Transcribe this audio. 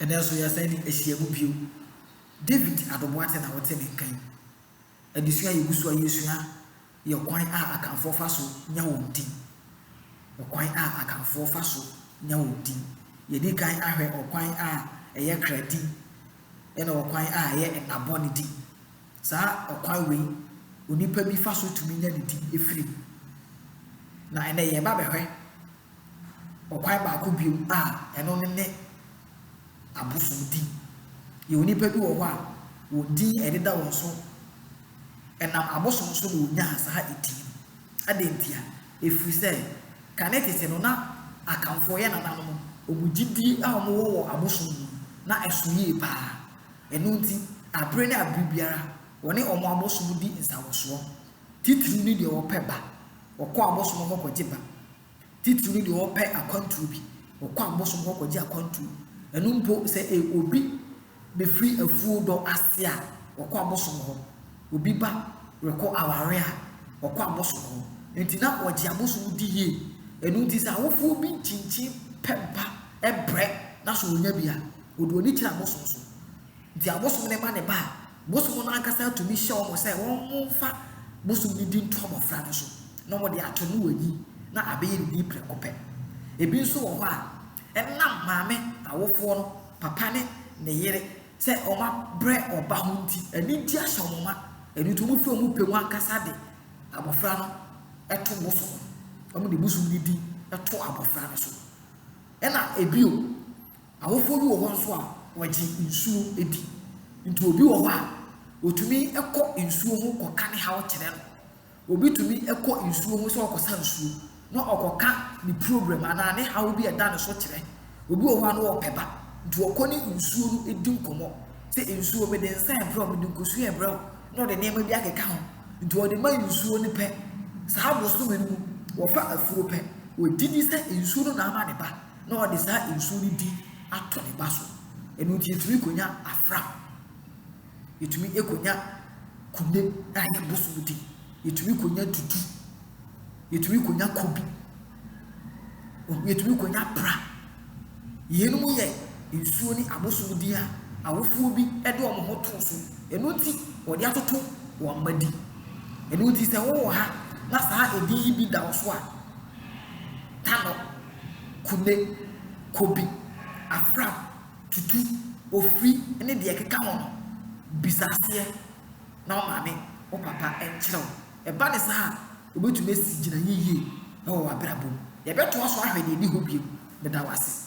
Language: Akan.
Ɛnnɛ nso yɛsan de ahyia mu bio. David Adobwate na ɔte ne nka yi. Adesua a yegu so a yɛresua yɛ ɔkwan a Akanfoɔ fa so nya wɔn din. Ɔkwan a Akanfoɔ fa so nya wɔn din. Yɛadi kan ahwɛ ɔkwan a ɛyɛ kra din ɛna ɔkwan a ɛyɛ nna bɔne din. Saa ɔkwan wei onipa bi fa so tumi nya ne din firi mu. Na ɛnnɛ yɛreba abɛhwɛ Ɔkwan baako bio a ɛno no ne abosomdi. Yɛwɔ nnipa bi wɔ hɔ a wɔn din a ɛdeda wɔn so ɛnam abosom so na wɔnyaa saa din no. Adɛn ntia? Ɛfiri sɛ kane tete no na Akanfoɔ yɛ nananom, wɔn gyidie a wɔwɔ wɔ abosom mu no na ɛso yie pa ara. Ɛno nti aberɛ ne aberɛ biara wɔne wɔn abosom di nsawɔsoɔ, titiriw ne deɛ wɔpɛ ba Wɔkɔ abosom hɔ kɔgye ba. Titiriw no deɛ wɔpɛ akwantuo bi. Wɔkɔ abosom hɔ kɔgye akwantuo. Ɛno mpo sɛ obi bɛfiri afuo dɔ ase a, wɔkɔ abosom hɔ. Obi ba rekɔ awareɛ a, wɔkɔ abosom hɔ. Enti na wɔgye abosom di yie. Ɛno nti sɛ awofoɔ bi nkyinkyin pɛ ba brɛ na sɛ ɔnya bi a, ɔde ɔni kyerɛ abosom so. Nti abosom no ma ne ba a, Bosom no ankasa tumi hyɛ wɔn sɛ wɔmfa bosom no din to abɔfra no so na wɔde ato no wanyin na abɛyɛ ne din prɛko pɛ. Ebi nso wɔ hɔ a, ɛnam maame, awofoɔ no, papa ne ne yere sɛ wɔabrɛ ɔba ho nti, ɛno nti ahyɛ wɔn ma, ɛno nti wɔfi wɔn pɛ mu ankasa de abɔfra no to bosom no. Wɔde bosom no din to abɔfra no so. Ɛna ebio, Awofoɔ bi wɔ hɔ nso a wɔgye nsuo di. Nti obi wɔ hɔ a, wɔtumi kɔ nsuo ho kɔka ne haw kyerɛ no. Obi tumi kɔ nsuo ho sɛ ɔrekɔsa nsuo na ɔkɔka ne problem anaa ne haw bi a ɛda ne so kyerɛ. Obi wɔ hɔ a na ɔpɛ ba, nti ɔkɔ ne nsuo no di nkɔmmɔ sɛ nsuo mede nsa rebrɛ wo, mede nkosua rebrɛ wo, na ɔde nneɛma bi akeka ho. Nti ɔde ma nsuo no pɛ. Saa bosome no mu, wɔfa afuo pɛ. Ɔgye di sɛ nsuo no na ama ne ba. na ɔde saa nsuo no bi ato ne ba so. Ɛno nti yɛtumi kɔnya afra, yɛtumi kɔnya kune a yɛ bosom di, yɛtumi kɔnya dudu, yɛtumi kɔnya kobi, yɛtumi kɔnya pra. Yeinom yɛ nsuo ne abosom din a awofoɔ bi de wɔn ho to so. Ɛno nti wɔde atoto wɔn mma di. Ɛno nti sɛ wowɔ ha na saa edin yi bi da wo so a, ta no. Kune, Kobi, Afrap, Tutu, Ofiri ne deɛ ɛkeka ho no, bisa aseɛ na wo maame, wo papa nkyerɛ wo. Ɛba no saa a, wobɛtumi asi gyinaeɛ yie wɔ w'abrabɔ mu. Yɛbɛtoa so ahwɛ deɛ ɛdi hɔ bio. Meda wo ase.